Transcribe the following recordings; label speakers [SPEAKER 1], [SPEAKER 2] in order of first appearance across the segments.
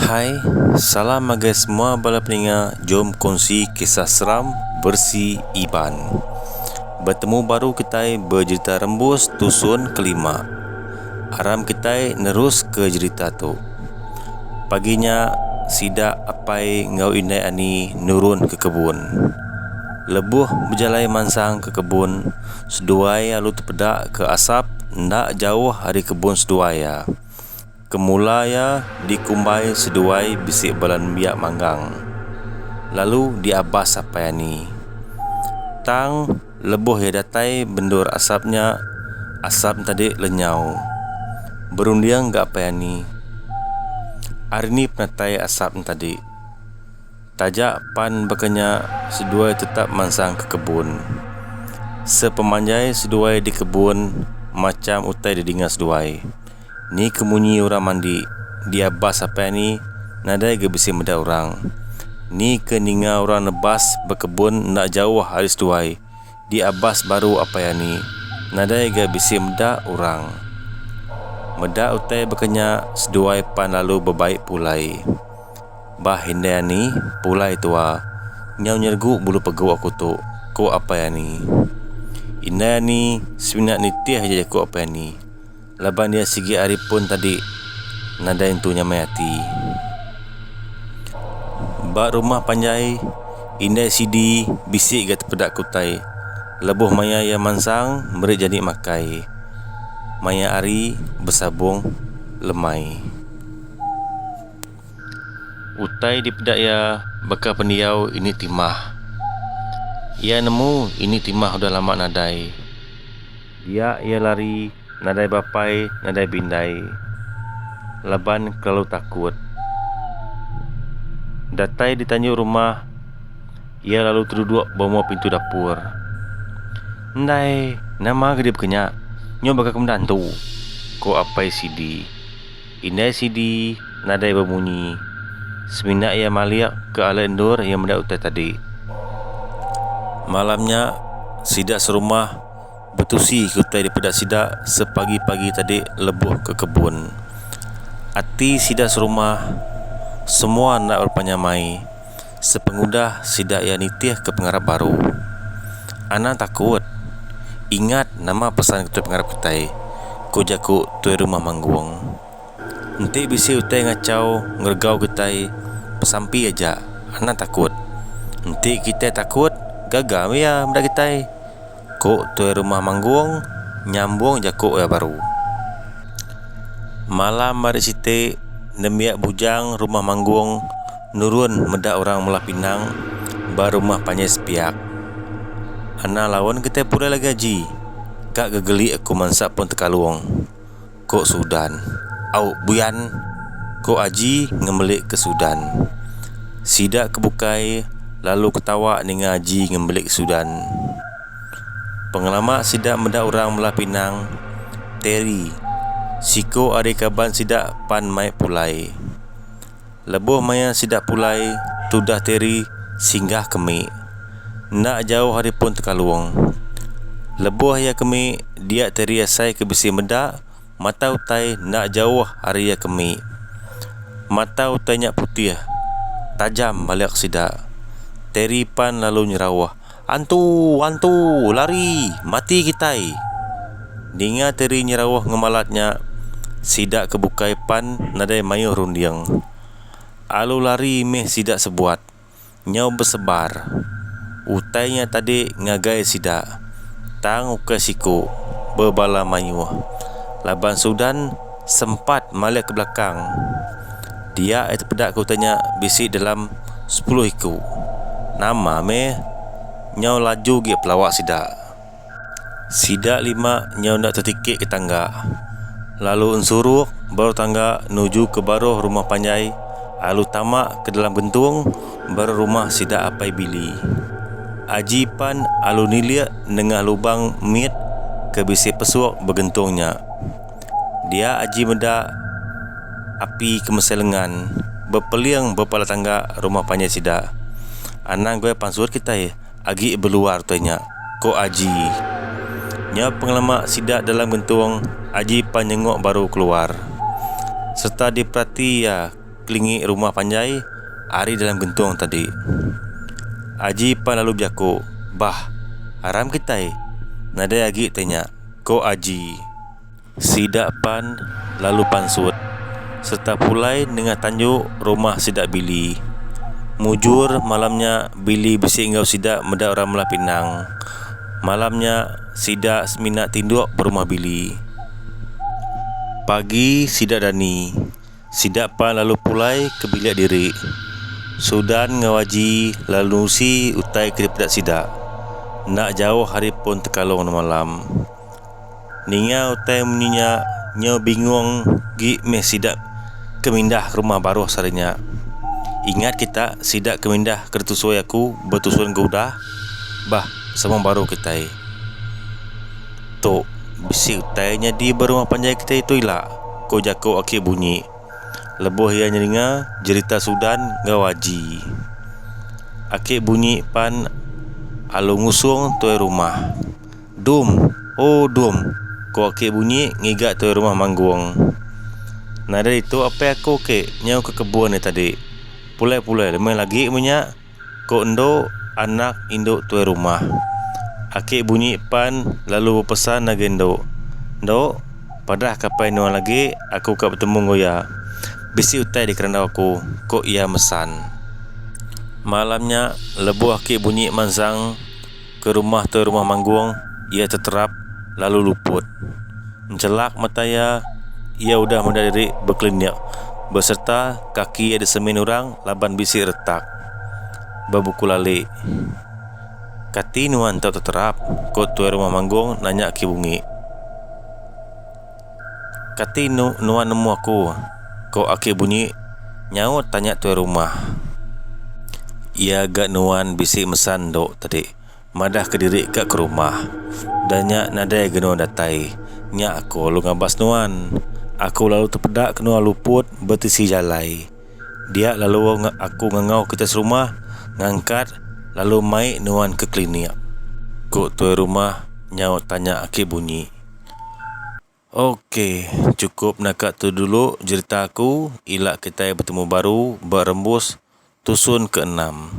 [SPEAKER 1] Hai, salam ngagai semua bala peninga jom kongsi kisah seram versi Iban. Betemu baru kitai bejerita rembus tusun kelima. Aram kitai neruska jerita tu. Pagi nya sida apai enggau indai ani nurun ke kebun. Lebuh bejalai mansang ke kebun seduai alu tepeda ke asap enda jauh ari kebun seduai iya. Ke mula iya dikumbai seduai bisi bala nembiak manggang, lalu diabas apai ani. Tang, lebuh iya datai bendur asap nya, asap ntadi lenyau. Berunding ga apai ani. Ari ni penatai asap ntadi? Taja pan baka nya, seduai tetap mansang ke kebun. Sepemanjai seduai di kebun, macham utai didinga seduai. Ni ke munyi orang mandi dia bas apai ni nadai ga bisi meda orang. Ni ke ninga orang nebas bekebun enda jauh ari seduai dia bas baru apai ani nadai ga bisi meda orang. Meda utai baka nya seduai pan lalu bebai pulai. Bah indai ani, pulai tua, nyau nyergu bulu pegu aku tu, ku apai ani. Indai ani semina nitih aja jaku apai ani. Laban iya sigi ari pun tadi nadai entu nyamai ati. Ba rumah panjai, indai sidi bisi ga tepeda ke utai lebuh maya iya mansang meri jani makai maya ari besabung lemai. Utai dipeda iya baka pendiau ini timah. Iya nemu ini timah udah lama nadai. Dia iya lari nadai bapai nadai bindai laban kelalu takut. Datai di tanjung rumah iya lalu teduduk ba mua pintu dapur. Ndai nama ga dia bekenya nyau baka ke meda antu, ko Apai Sidi. Indai Sidi nadai bemunyi semina iya malik ke alai endur iya meda utai tadi. Malam nya sida serumah. Betusi ke utai dipeda sida sepagi-pagi tadi lebuh ke kebun. Ati sida serumah semua enda berepa nyamai sepengudah sida iya nitih ke pengarap baru. Anang takut ingat nama pesan ke tuai pengarap kitai, ku jaku tuai rumah Manggong. Enti bisi utai ngachau ngeregau kitai besampi aja anang takut. Enti kitai takut gaga meh iya meda kitai, ku Tuai Rumah Manggung nyambung jaku iya baru. Malam ari siti nembiak Bujang Rumah Manggung nurun meda orang Melah Pinang ba rumah panjai sepiak. Anang laun kitai pulai lagi aji, ka gegeli aku mansa pun tekalung. Ko Sudan. Au, buyan, ko Aji ngembelik ke Sudan. Sida ke bukai lalu ketawa ninga Aji ngembelik ke Sudan. Pengelama sida meda orang Melah Pinang, Terry, siko ari kaban sida pan mai pulai. Lebuh maya sida pulai, tudah Terry singgah ke mik. Enda jauh ari pun Tekalung. Lebuh iya ke mik, dia Terry asai ke bisi meda mata utai enda jauh ari iya ke mik. Mata utai nya putih, tajam balik sida. Terry pan lalu nyerauh. Antu! Antu! Lari! Mati kitai! Ninga Terry nyerauh ngemalat nya, sida ke bukai pan nadai mayuh runding. Alu lari mih sida sebuat. Nyau besebar. Utai nya tadi ngagai sida, tang ukai siku, bebala mayuh. Laban Sudan sempat malik ke belakang. Dia ai tepeda ke utai nya bisi dalam sepuluh iku. Nama meh nyau laju agi pelawa sida. Sida lima nyau enda tetiki ke tangga lalu ensuruk baruh tangga nuju ke baruh rumah panjai lalu tama ke dalam gentung baruh rumah sida Apai Billy. Aji pan lalu nilik nengah lubang mit ke bisi pesuk begentung nya. Dia aji meda api ke mesai lengan bepeling ba pala tangga rumah panjai sida. Anang goi pansut kitai agi beluar utai nya, ku Aji. Nyau pengelama sida dalam gentung Aji pan nyengok baru keluar sereta diperati iya kelingi rumah panjai ari dalam gentung tadi. Aji pan lalu bejaku, Bah, aram kitai nadai agi utai nya. ko Aji. Sida pan lalu pansut sereta pulai nengah tanju rumah sida Billy. Mujur malam nya Billy bisi enggau sida meda orang melah pinang. Malam nya sida semina tinduk ba rumah Billy. Pagi sida dani. Sida pan lalu pulai ke bilik diri. Sudan enggau Aji lalu nusi utai ke dipeda sida. Enda jauh ari pun tekalung nemalam. Ninga utai munyi nya nyau bingung agi meh sida ke mindah ke rumah baruh sehari nya. Ingat kita sida ke mindah ke ditusui aku betusun ke udah bah sama baruh kitai. Tu, bisi utai nyadi ba rumah panjai kitai tu ila, ku jaku Akik Bunyi lebuh iya nyeringa jerita Sudan enggau Aji. Akik Bunyi pan alu ngusung tuai rumah. Dum! O Dum! ku Akik Bunyi ngiga tuai rumah manggung. Nadai ditu apai aku, Kik, nyau ke kebun ari tadi. Pulai-pulai deh meh agi meh nya. Ko endo anak indu tuai rumah. Aki bunyi pan lalu bepesan agi endo. Endo, padah kapai nuan agi aku ka betemu enggau iya. Bisi utai dikerandau aku, ko iya mesan. Malam nya lebuh aki bunyi mansang. Ke rumah te rumah Manggong iya teterap lalu luput. Enchelak mata iya, iya udah meda diri bekelinik beserta kaki iya disemin orang laban bisi retak ba buku lali. Kati nuan tau teterap? ko tuai rumah Manggong nanya ke bungi. Kati enu nuan nemu aku? ko Aki bunyi nyaut tanya tuai rumah. Iya ga nuan bisi mesa endo tadi madah kediri ka ke rumah. Da nya nadai ga nuan datai. Nya aku lalu ngabas nuan. Aku lalu tepeda ke nuan luput betisi jalai. Dia lalu aku ngangau kitai serumah ngangkat lalu mai nuan ke klinik, ko tuai rumah nyaut tanya Aki bunyi. Ok cukup naka tu dulu jerita aku ila kitai betemu baru ba rembus tusun ke enam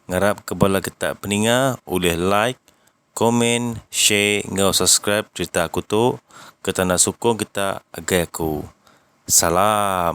[SPEAKER 1] ngarap ke bala kita peninga ulih like comment share enggau subscribe jerita aku tu ke tanda sukung kita agai aku salam.